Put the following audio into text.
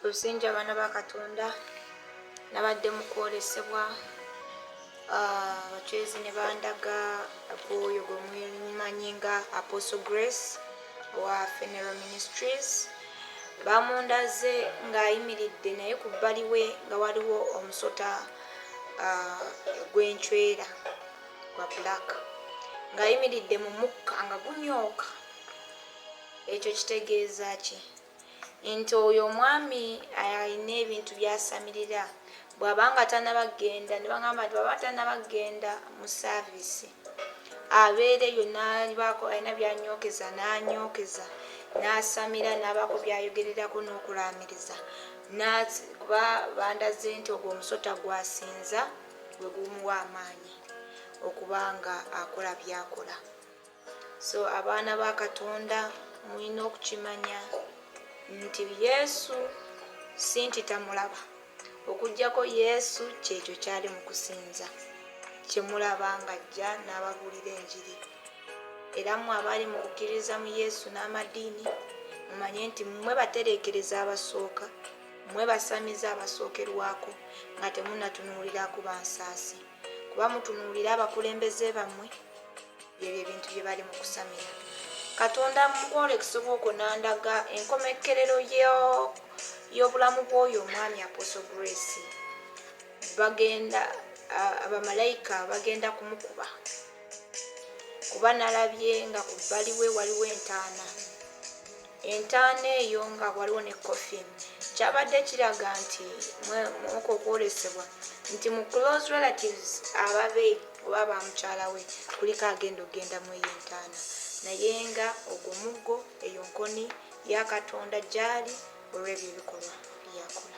luzingi abaana ba katonda nabadde mu kwolesebwa abacwezi ah, ne bandaga gwoyo gwe mwemanyi nga apostle grace owa feneral ministries bamundaze ng'ayimiridde naye ku bbali we nga waliwo omusota ah, gwencwera gwa black ng'ayimiridde mu mukka nga gunyooka ekyo kitegeeza ki nti oyo omwami alina ebintu byasamilira bwabanga tanaba genda nebagamba nti bwaba tanaba genda mu service abeera eyo nabaako alina byanyokeza nanyokeza nasamira nabaako byayogererako nokulamiriza kuba bandaze nti ogwo omusota gwasinza gwegumuwa amaanyi okuba nga akola byakola so abaana ba katonda mulina okukimanya nti yesu si nti tamulaba okugyako yesu kyekyo kyali mu kusinza kyemulaba nga ajja n'ababuulira enjiri era mwe abaali mu kukkiririza mu yesu n'amadiini mumanye nti mmwe batereekereza abasooka mmwe basamize abasookerwako nga temunatunuulira ku bansaasi kuba mutunuulire abakulembeze bammwe byebyo ebintu bye bali mu kusamira katonda mukwolekisa obwoko nandaga enkomekkerero y'obulamu bw'oyo omwami aposo grace bagenda abamalayika bagenda kumukuba kuba nalabye nga ku bbaliwe waliwo entaana Entaana eyo nga waliwo ne coffin kyabadde kiraga nti mwoko okwolesebwa nti mu close relatives ababe oba ba mukyala we kuliko agenda okugenda mu eyo entaana naye nga ogwo muggo eyo nkoni ya katonda gyali olw'ebyo ebikolwa byakola.